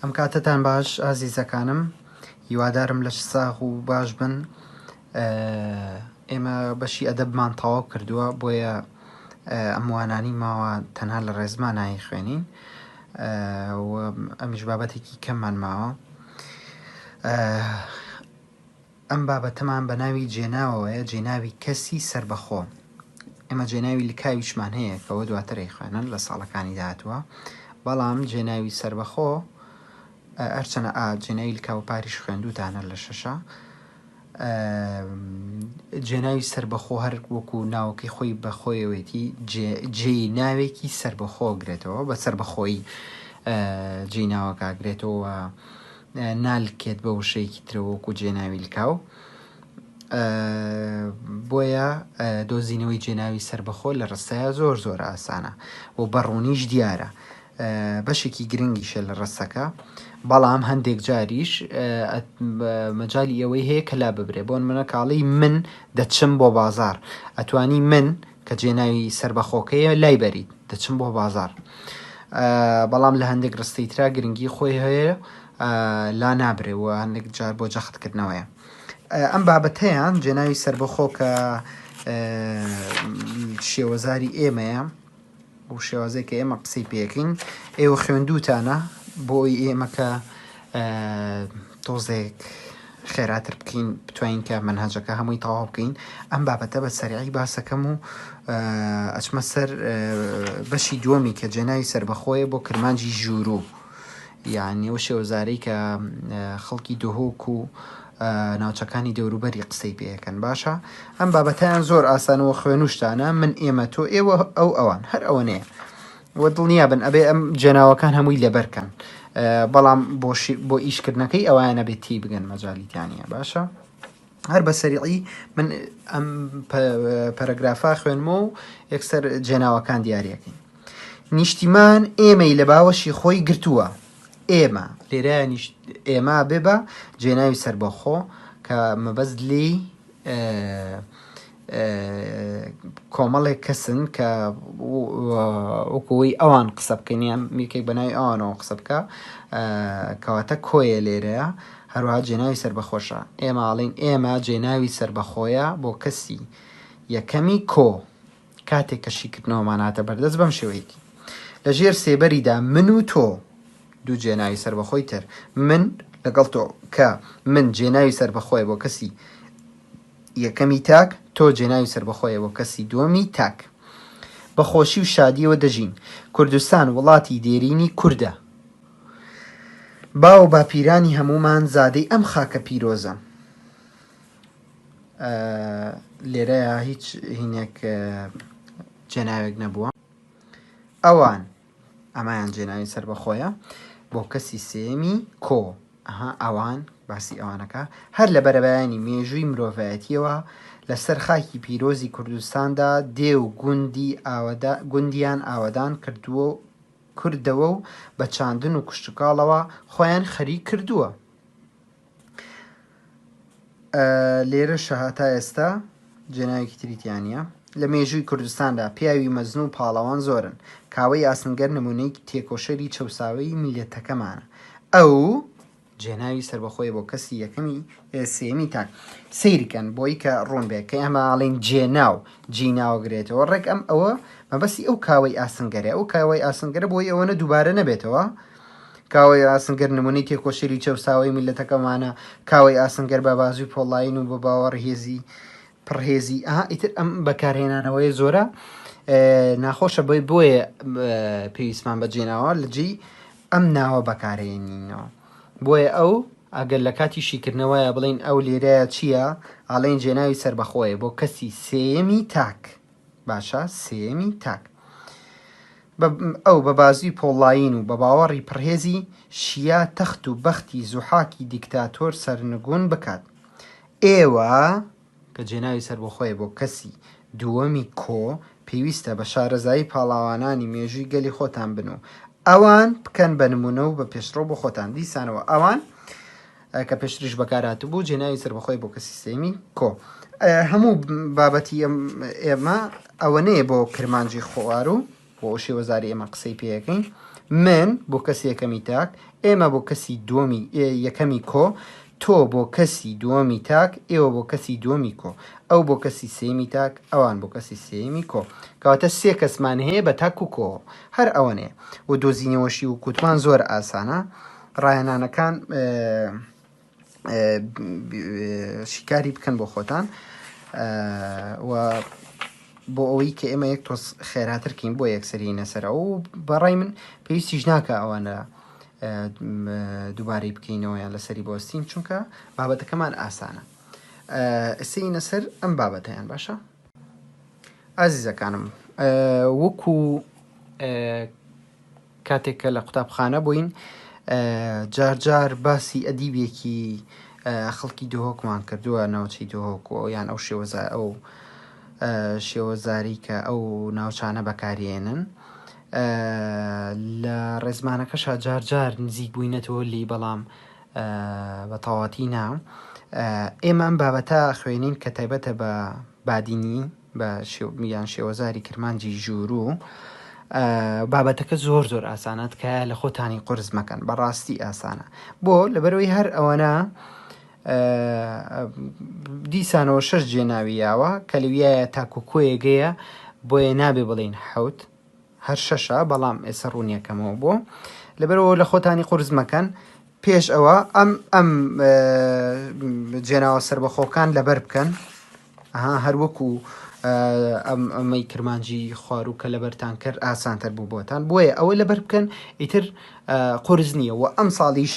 ئەم کاتتان باش ئازیزەکانم هیوادارم لەش ساغ و باش بن ئێمە بەشی ئەدەبمان تەواو کردووە بۆیە ئەموانانی ماوە تەنها لە ڕێزمان نایی خوێنین ئەمیش بابەتێکی کەممان ماوە ئەم بابەتەمان بە ناوی جێناوەوەیە، جێناوی کەسی سەربەخۆ. ئێمە جێناوی لکاویشمان هەیە کە ئەوە دواتر ئەیخوێنن لە ساڵەکانی داهاتووە، بەڵام جێناوی سەربەخۆ هەرچەنە ئا جێناوی لکاو پاریش خوێندووتانە لە شەشە ئە جێناوی سەربەخۆ هەر وەکو ناوەکەی خۆی بەخۆیەوەیەتی جێ جێی ناوێکی سەربەخۆ گرێتەوە بە سەربەخۆیی ئە جێی ناوەکە گرێتەوە. نالکێت بە وشەیەکی ترەوە وەکو جێناوی لکاو بۆیە دۆزینەوەی جێناوی سربەخۆ لە ڕستەیە زۆر زۆر ئاسانە و بەڕوونیش دیارە بەشێکی گرنگیشە لە ڕستەکە بەڵام هەندێک جاریش مەجای ئەوەی هەیە کە لا ببرێ بۆن منە کاڵی من دەچم بۆ بازار ئەتوانی من کە جێ ناوی سەربەخۆکەیە لای بەریت دەچم بۆ بازار بەڵام لە هەندێک ڕستەی ترا گرنگی خۆی هەیە لا نابرێ و هەندێک جار بۆ جەختکردنەوەیە ئەم بابەتەیان جێناوی سەربەخۆکە شێوەزاری ئێمەیە بەو شێوازەی کە ئێمە قسەی پێکەین ئێوە خوێندووتانە بۆی ئێمە کە تۆزێک خێراتر بکەین بتوانین کە منهاجەکە هەمووی تەواو بکەین ئەم بابەتە بە سەرعی باسەکەم و ئەچمە سەر بەشی دووەمی کە جێناوی سربەخۆیە بۆ کرمانجی ژوورو یعنی ئەو شێوەزارەی کە خەڵکی دهۆک و ناوچەکانی دەوروبەری قسەی پێکەن باشە ئەم بابەتیان زۆر ئاسانەوە خوێنوشتانە من ئێمە تۆ ئێوە ئەو ئەوان هەر ئەوە نەیە وە دڵنیا بن ئەبێ ئەم جێناوەکان هەمووی لەبەرکەن بەڵام بۆ ئیشکردنەکەی ئەوانە بێت تی بگەن مەجالیتیانە باشە هەر بە سەریعی من ئەم پەرەگرافا خوێنمە و یەکسەر جێناوەکان دیارەکەین نیشتیمان ئێمەی لە باوەشی خۆی گرتووە ئێما، لێرایانیش ئێما بێ بە جێناوی سەربەخۆ کە مەبەست لێی کۆمەڵێک کەسن کە وەکەوەی ئەوان قسە بکەنیان میرکێک بەناوی ئەوانەوە قسە بکە کەواتە کۆیە لێرەیە هەروها جێناوی سربەخۆشە ئێماڵین ئێمە جێناوی سربەخۆیە بۆ کەسی یەکەمی کۆ کاتێک کە شیکردنەوەمان هاتە بەردەست بەم شێوەیەی لە ژێر سێبەریدا من و تۆ دوو جێناوی سەربەخۆی تر من لەگەڵ تۆ کە من جێناوی سەربەخۆیە بۆ کەسی یەکەمی تاک تۆ جێناوی سەربەخۆیە بۆ کەسی دووەمی تاک بە خۆشی و شادیەوە دەژین کوردستان وڵاتی دێرینی کوردە باو باپیرانی هەمومان زادەی ئەم خاکە پیرۆزە. لێرەیا هیچ هینێک جێناوێک نەبووە ئەوان ئەمایان جێناوی سەر بەخۆیە بۆ کەسی سێمی کۆ ئەها ئەوان باسی ئەوانەکە هەر لە بەرەبایانی مێژووی مرۆڤایەتیەوە لەسەر خاکی پیرۆزی کوردستاندا دێ و گوندی ئاوەدا گوندیان ئاوادان کردووە و کردەوە و بە چاندن و کوشتکاڵەوە خۆیان خەریک کردووە لێرەشە هەتا ئێستا جێناوێکی تری تیا نییە لە مێژووی کوردستاندا پیاوی مەزن و پاڵەوان زۆرن کاوەی ئاسنگەر نمونەی تێکۆشەری چەساوی میلەتەکەمانە ئەو جێناوی سربەخۆی بۆ کەسی یەکەمی سێمی تاک سیرکەن بۆی کە ڕوون بێت کە ئەماڵین جێناو جیناوگرێتەوە ڕێک ئەم ئەوە مەبەستی ئەو کاوەی ئاسنگەرە ئەو کاوەی ئاسنگەرە بۆی ئەوەنە دووبارە نەبێتەوە کاوەی ئاسنگەر نموونەی تێکۆشەری چەوساوەی میللەتەکەمانە، کاوەی ئاسنگەر بە بازووی پۆڵایین و بە باوەڕ هێزی پڕ هێزی، ئەها ئیتر ئەم بەکارهێنانەوەیە زۆرە ناخۆشە بۆی بۆیە پێویستمان بە جێناوە لە جێی ئەم ناوە بەکارهێنینەوە بۆیە ئەو ئەگەر لە کاتی شیکردنەوەیە بڵین ئەو لێرەیە چییە ئاڵێن جێناوی سربەخۆیە بۆ کەسی سێیەمی تاک. باشە سێیەمی تاک بە ئەو بە بازوی پۆڵایین و بە باوەڕی پڕهێزی شیا تەخت و بەختی زوحاکی دیکتاتۆر سەرنگون بکات. ئێوە، کە جێناوی سەربەخۆیە بۆ کەسی دووەمی کۆ، پێویستە بە شارەزایی پاڵاوانانی مێژوی گەلی خۆتان بن و ئەوان بکەن بە نمونە و بە پێشڕەو بۆ خۆتان، دیسانەوە ئەوان، کە پێشتریش بەکارهاتبوو جێناوی سەربەخۆی بۆ کە سیستێمی کۆ هەموو بابەتی ئێمە ئەوەنەیە بۆ کرمانجی خۆوار و بۆ شێوەزاری ئێمە قسەی پێەکەین من بۆ کەسی یەکەمی تاک ئێمە بۆ کەسی دووەمی یەکەمی کۆ تۆ بۆ کەسی دووەمی تاک ئێوە بۆ کەسی دووەمی کۆ ئەو بۆ کەسی سێمی تاک ئەوان بۆ کەسی سێمی کۆ کەواتە سێ کەسمان هەیە بە تاک و کۆ هەر ئەوەنێ و دۆزینەوەشی و کووتمان زۆر ئاسانە ڕاهێنانەکان شیکاری بکەن بۆ خۆتان بۆ ئەوەی کە ئێمە یەک تۆز خێراترکەین بۆ یەکسری نەسەر ئەو بەڕای من پێویستیش ناکە ئەوانە دووبارەی بکەینەوەیان لەسەری بۆستین چونکە بابەتەکەمان ئاسانە ئەسەی نەسەر ئەم بابەتیان باشە ئازیزەکانم وەکو کاتێک کە لە قوتابخانە بووین جار جار باسی ئەدیبێکی خەڵکی دهۆکمان کردووە ناوچەی دهۆک و یان ئەو شێوەزا ئەو شێوەزاری کە ئەو ناوچانە بەکارێنن لە ڕێزمانەکەشا جار جار نزیک بووینەتەوە لی بەڵام بە تەواتی نا ئێمە ئەم بابەتە خوێنین کە تایبەتە بە بادینی بە یان شێوەزاری کرمانجی ژووروو بابەتەکە زۆر زۆر ئاسانە تکایە لە خۆتانی قرس مەکەن بەڕاستی ئاسانە بۆ لەبەرەوەی هەر ئەوەنە دیسانەوە شەش جێ ناوی یاوە کە لەویایە تاکو کۆیەگەیە بۆیە نابێ بڵین حوت هەر شەشە بەڵام ئێسە ڕوونیەکەمەوە بۆ لەبەرەوە لە خۆتانی قرس مەکەن پێش ئەوە ئەم ئەم جێناوە سربەخۆکان لەبەر بکەن ئەها هەر وەکو ئەم ئەمەی کرمانجی خواروو کە لەبەرتان کرد ئاسانتر بوو بۆتان بۆیە ئەوە لەبەر بکەن ئیتر قرس نییە و ئەم ساڵیش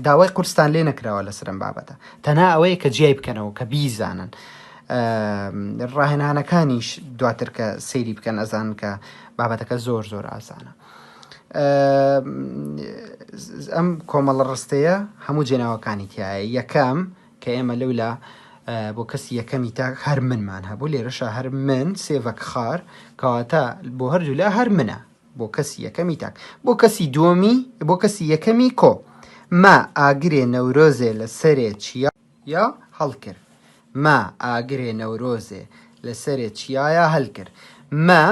داوای قرستان لێ نەکراوە لە سرم بابەتە تەنا ئەوەیە کە جیای بکەنەوە کە بیزانن. ڕاهێنانەکانیش دواتر کە سەیری بکەن ئەزان کە بابەتەکە زۆر زۆر ئاسانە ئەم کۆمەڵە ڕستەیە هەموو جێناوەکانی تایە یەکەم کە ئێمە لەولا بۆ کەسی یەکەمی تاک هەر منمان هەبوو لێرەشا هەر من سێڤەک خار کەواتە بۆ هەردوولا هەر منە بۆ کەسی یەکەمی تاک بۆ کەسی دووەمی بۆ کەسی یەکەمی کۆ ما ئاگرێ نەورۆزێ لە سەرێ چیا یا هەڵکر ما ئاگرێ نەورۆزێ لە سەرێ چیایە هەلکر ما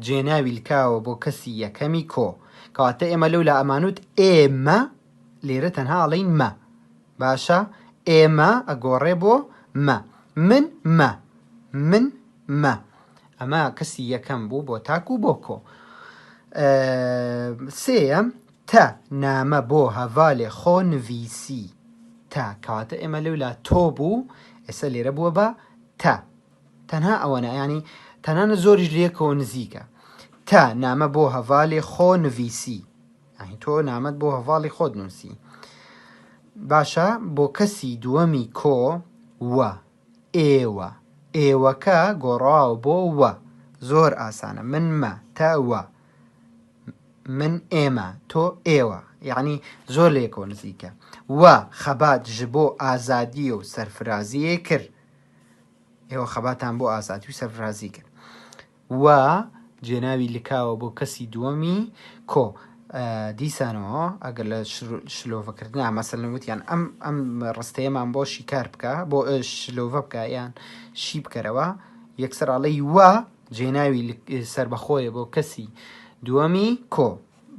جێناوی لکاوە بۆ کەسی یەکەمی کۆ کەواتە ئێمە لەولا ئەمانوت ئێمە لێرە تەنها ئەڵین مە باشە ئێ مە ئەگۆڕێ بۆ مە من مە من مە ئەمە کەسی یەکەم بوو بۆ تاک و بۆ کۆ سێەم تە نامە بۆ هەڤالێ خۆ نڤیسی تە کەواتە ئێمە لەولا تۆ بوو ئێستا لێرە بووە بە تە تەنها ئەوەنە ینی تەنانە زۆریش لەکەوە نزیکە تە نامە بۆ هەڤالێ خۆ نڤیسی یانی تۆ نامەت بۆ هەڤاڵی خۆت نووسی باشە بۆ کەسی دووەمی کۆ وە ئێوە ئێوەکە گۆڕاوە بۆ وە زۆر ئاسانە من مە تە وە من ئێمە تۆ ئێوە یعنی زۆر لێکەوە نزیکە وە خەبات ژ بۆ ئازادی و سەرفرازیە کرد ئێوە خەباتان بۆ ئازادی و سەرفرازی کرد و جێناوی لکاوە بۆ کەسی دووەمی کۆ دیسانەوە ئەگەر لە شلۆڤە کردنا مەسەلەن وتیان ئەم ئەم ڕستەیەمان بۆ شیکار بکە بۆ شلۆڤە بکە یان شی بکەرەوە یەکسەر ئەڵێی وە جێناوی سربەخۆیە بۆ کەسی دووەمی کۆ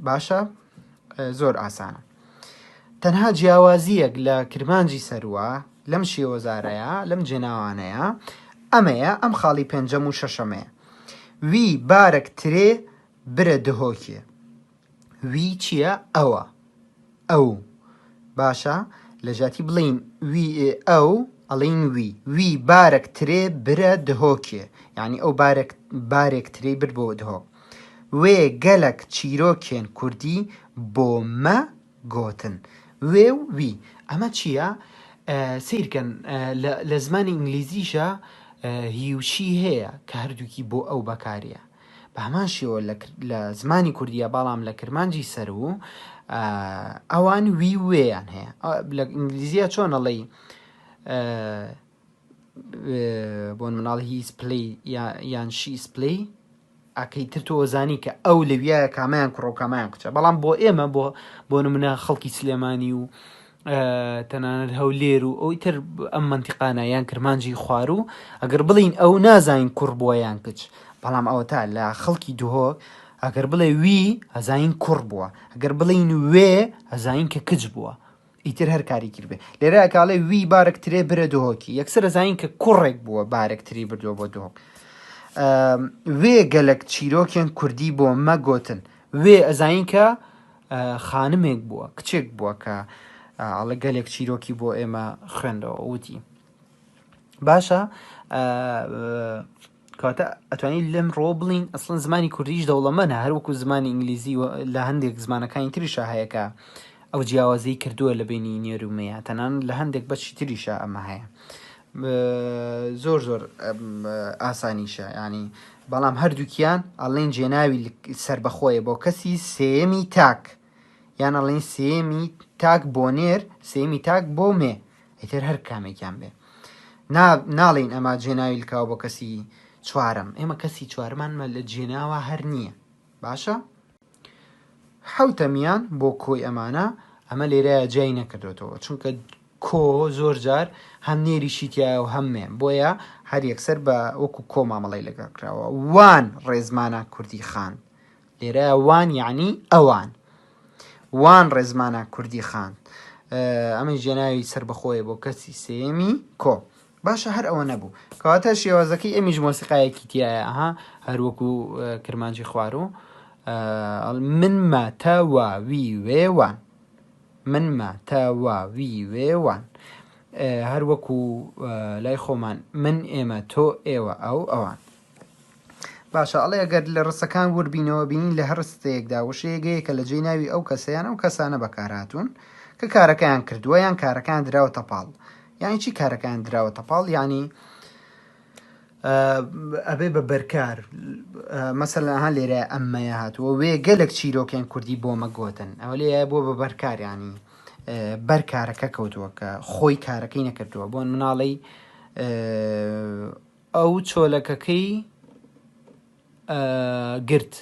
باشە زۆر ئاسانە تەنها جیاوازییەک لە کرمانجی سەروە لەم شێوەزارەیە، لەم جێناوانەیە، ئەمەیە، ئەم خاڵی پێنجەم و شەشەمەیە. وی بارەک ترێ برە دهۆکێ. وی چییە؟ ئەوە. ئەو. باشە، لە جیاتی بڵێین وی ئەو، ئەڵێین وی. وی بارەک ترێ برە دهۆکێ. یانی ئەو بارەک، بارێک ترێی برد بۆ دهۆک. وێ گەلەک چیرۆکێن کوردی بۆ مە گۆتن. وێ و وی. ئەمە چییە؟ سەیر کەن لە زمانی ئینگلیزیشا هی و شی هەیە کە هەردووکی بۆ ئەو بەکاریە. بە هەمان شێوە لە زمانی کوردیە بەڵام لە کرمانجی سەروو ئەوان وی و وێیان هەیە. لە ئینگلیزیە چۆن ئەڵێی بۆن مناڵ هی سپلی یان شی سپلی ئەکەی تر تۆ زانی کە ئەو لەویایە کامیان کوڕە و کامیان کچە بەڵام بۆ ئێمە بۆ بۆ منە خەڵکی سلێمانی و تەنانەت هەولێر و ئەوی تر ئەم منتیقانە یان کرمانجی خوارو ئەگەر بڵین ئەو نازانین کوڕ بووە یان کچ بەڵام ئەوە تا لە خەڵکی دهۆک ئەگەر بڵێ وی ئەزین کوڕ بووە ئەگەر بڵین وێ ئەزین کە کچ بووە ئیتر هەر کاری کرد بێ. لێرە ئەکاڵێ وی بارک ترێ برە دهۆکی. یەکسەر ئەزانین کە کوڕێک بووە بارک تری بردووە بۆ دهۆک. وێ گەلک چیرۆکێن کوردی بۆ مە گۆتن. وێ ئەزانین کە خانمێک بووە کچێک بووە کە ئاڵە گەلێک چیرۆکی بۆ ئێمە خوێندەوە وتی. باشە کەواتە ئەتوانین لەم ڕۆ بڵین ئەسڵەن زمانی کوردیش دەوڵەمەنە هەروەکو زمانی ئینگلیزی لە هەندێک زمانەکانی تریشە هەیەکە ئەو جیاوازی کردووە لە بینی نێرومەیە تەنان لە هەندێک بەشی تریشە ئەمە هەیە زۆر زۆر ئاسانیشە ینی بەڵام هەردووکیان ئەڵین جێناوی سربەخۆیە بۆ کەسی سێمی تاک یان ئەڵین سێمی تاک بۆ نێر سێمی تاک بۆ مێ ئیتر هەر کامێکیان بێ ناڵین ئەما جێناوی لکاو بۆ کەسی چوارم ئێمە کەسی چوارمانمە لە جێناوە هەر نییە باشە حوتەمیان بۆ کۆی ئەمانە ئەمە لێرەیە جای نەکردوێتەوە چونکە کۆ زۆر جار هەم نێریشی تایە و هەمێ بۆیە هەر یەکسەر بە وەکو کۆ مامەڵی لەگەڵ کراوە وان ڕێزمانە کوردی خان لێرە وان یەعنی ئەوان. وان ڕێزمانە کوردی خان ئەمە ژێناوی سربەخۆیە بۆ کەسی سێمی کۆ باشە هەر ئەوە نەبوو کەواتە شێوازەکەی ئەمیش مۆسیقایەکی تایەها هەروەکو کرمانجی خوار و من ماتەواوی وێوان من ماتەواوی وێوان هەروەکو لای خۆمان من ئێمە تۆ ئێوە ئەو ئەوان باشە ئەڵێ ئەگەر لە ڕستەکان وربینەوە بینین لە هەر ڕستەیەکدا وشەیەگەیەکە لە جێ ناوی ئەو کەسەیان ئەو کەسانە بەکارهاتوون کە کارەکەیان کردووە یان کارەکان دراوە تەپاڵ یانی چی کارەکان دراوە تەپاڵ ینی ئەبێ بە بەرکار مەسەلها لێرە ئەممەیە هاتووە وێ گەلک چیرۆکێن کوردی بۆ مەگوتن ئەوە لێ بۆ بە بەرکاریانی بەر کارەکە کەوتووە کە خۆی کارەکەی نەکردووە بۆن مناڵی ئەو چۆلەکەکەی گرت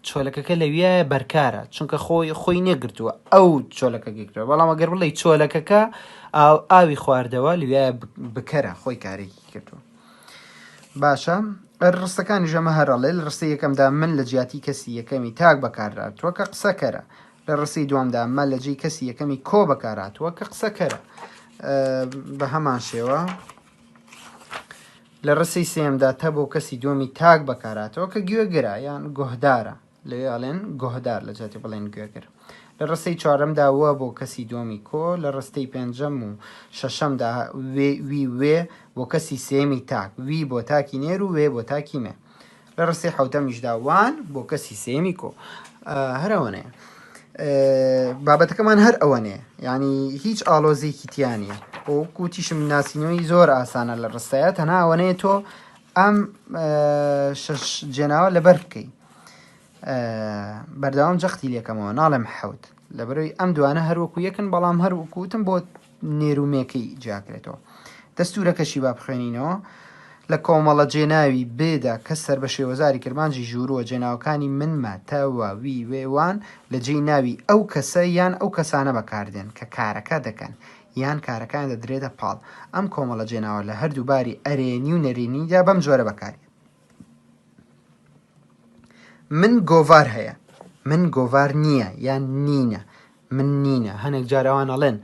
چۆلەکەکە لەویایە بەرکارە چونکە خۆی خۆی نەگرتووە ئەو چۆلەکە گرتووە بەڵام ئەگەر بڵێ چۆلەکەکە ئاو ئاوی خواردەوە لویایە بکەرە خۆی کارێکی کردووە باشە ڕستەکانی ژەمە هەرڵێ لە ڕستی یەکەمدا من لە جیاتی کەسی یەکەمی تاک بەکاراتوە کە قسەکەرە لە ڕستی دوامدا مە لە جێی کەسی یەکەمی کۆ بەکاراتوە کە قسەکەرە بە هەمان شێوە لە ڕستەی سێیەمدا تە بۆ کەسی دووەمی تاک بەکاراتەوە کە گوێگرە یان گۆهدارە لەوێ ئەڵێن گۆهدار لە جاتی بڵێن گوێگر لە ڕستەی چوارەمدا وە بۆ کەسی دووەمی کۆ لە ڕستەی پێنجەم و شەشەمدا وێ وی وێ بۆ کەسی سێمی تاک وی بۆ تاکی نێر و وێ بۆ تاکی مێ لە ڕستەی حوتەمیشدا وان بۆ کەسی سێمی کۆ هەر ئەوەنەیە بابەتەکەمان هەر ئەوەنێ ینی هیچ ئاڵۆزێکی تیانە بۆ کوتیشم ناسینەوەی زۆر ئاسانە لە ڕستەیە تەنا ئەوەنەیە تۆ ئەم شش جێناوە لەبەر بکەیت بەردەوام جەختی لەکەمەوە ناڵێم حەوت لەبەروی ئەم دوانە هەروەکو یەکن بەڵام هەروکوتم بۆ نێرومێکەی جیاکرێتەوە. دەستوورەکەشی با بخوێنینەوە، لە کۆمەڵە جێناوی ب دا کە سەر بە شێوەزاری کرمانجی ژوورووە جێناوەکانی من، مە، تە، وە، وی، وێ، وان لە جێی ناوی ئەو کەسە یان ئەو کەسانە بەکاردێن کە کارەکە دەکەن یان کارەکەیان دەدرێتە پاڵ. ئەم کۆمەڵە جێناوە لە هەردوو باری ئەرێنی و نەرێنیدا بەم جۆرە بەکاردێت. من گۆڤار هەیە من گۆڤار نییە یان نینە من نینە هەنێک جاراوان ئەڵێن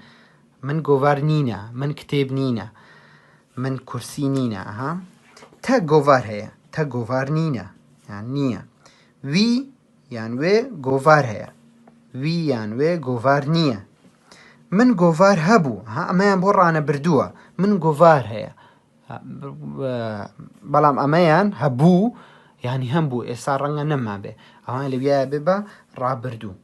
من گۆڤار نینە من کتێب نینە من کورسی نینە ها تە گۆڤار هەیە تە گۆڤار نینە یان نییە وی یان وێ گۆڤار هەیە وی یان وێ گۆڤار نییە من گۆڤار هەبوو ها ئەمەیان بۆ ڕانە بردووە من گۆڤار هەیە بەڵام ئەمەیان هەبوو یانی هەم بوو ئێستا ڕەنگە نەمابێ ئەوان لەویایە بێ بە ڕابردوو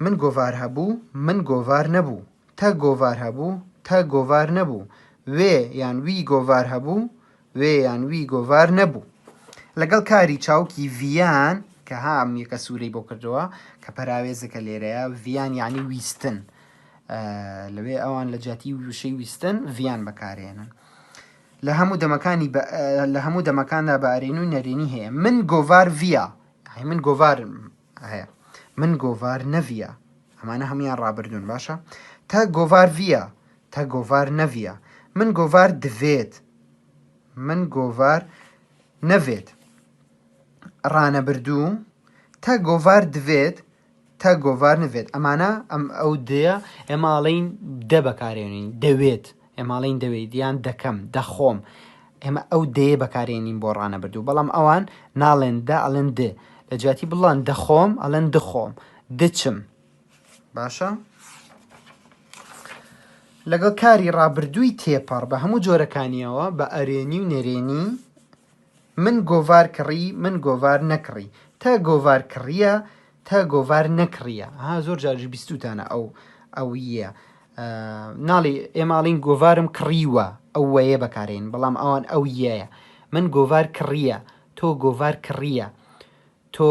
من گۆڤار هەبوو من گۆڤار نەبوو تە گۆڤار هەبوو تە گۆڤار نەبوو وێ یان وی گۆڤار هەبوو وێ یان وی گۆڤار نەبوو لەگەڵ کاری چاوکی ڤیان کە هام یەکە سوورەی بۆ کردەوە کە پەراوێزەکە لێرەیە ڤیان یعنی ویستن لەوێ ئەوان لە جیاتی وشەی ویستن ڤیان بەکارێنن لە هەموو دەمەکانی لە هەموو دەمەکاندا بە ئەرێن و نەرێنی هەیە من گۆڤار ڤیا من گۆڤار هەیە من گۆڤار نەڤە ئەمانە هەمویان ڕابردون باشە تا گۆڤار ڤە تا گۆڤار نەڤە من گۆڤار دەوێت من گۆڤار نەوێت ڕانەبردوو تا گۆڤار دەوێت تا گۆڤار نڤێت ئەمانە ئەم ئەو دەیە ئێمە ئاڵین دە بەکارێنین دەوێت ئێماڵین دەوێت یان دەکەم دەخۆم ئێمە ئەو دەیە بەکارێنین بۆ ڕانە بردو بەڵام ئەوان ناڵێن دە ئەڵێن دێ لە جیاتی بڵان دەخۆم ئەڵێن دخۆم دچم باشە لەگەڵ کاری ڕابردووی تێپەڕ بە هەموو جۆرەکانیەوە بە ئەرێنی و نەرێنی من گۆڤار کڕی من گۆڤار نەکڕی تە گۆڤار کڕیە تە گۆڤار نەکڕیە ها زۆر جاریش بیستوتانە ئەو ئەو یە ناڵی ئێماڵین گۆڤارم کڕیوە ئەو وەیە بەکارێن بەڵام ئەوان ئەو یەیە من گۆڤار کڕیە تۆ گۆڤار کڕیە تۆ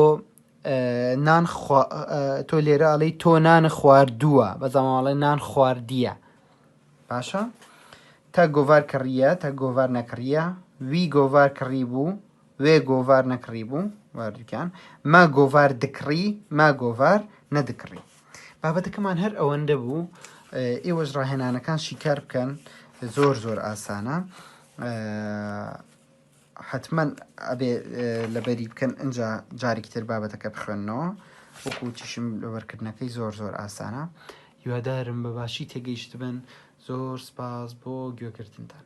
نان تۆ لێرە ئەڵی تۆ نان خواردووە بەزەماڵێ نان خواردیە باشە تە گۆڤار کڕیە تە گۆڤار نەکڕیە وی گۆڤار کڕی بوو وێ گۆڤار نەکڕی بوو واردکان ما گۆڤار دکڕی ما گۆڤار نەدکڕی بابەتەکەمان هەر ئەوەندە بوو ئێوەش ڕاهێنانەکان شیکار بکەن زۆر زۆر ئاسانە حەتمەن ئەبێ لەبەری بکەن ئەجا جارێکی تر بابەتەکە بخوێنەوە وەکوتیشم لەبەرکردنەکەی زۆر زۆر ئاسانە هیوادارم بە باشی تێگەیشتبن زۆر سپاس بۆ گوێگرتنتان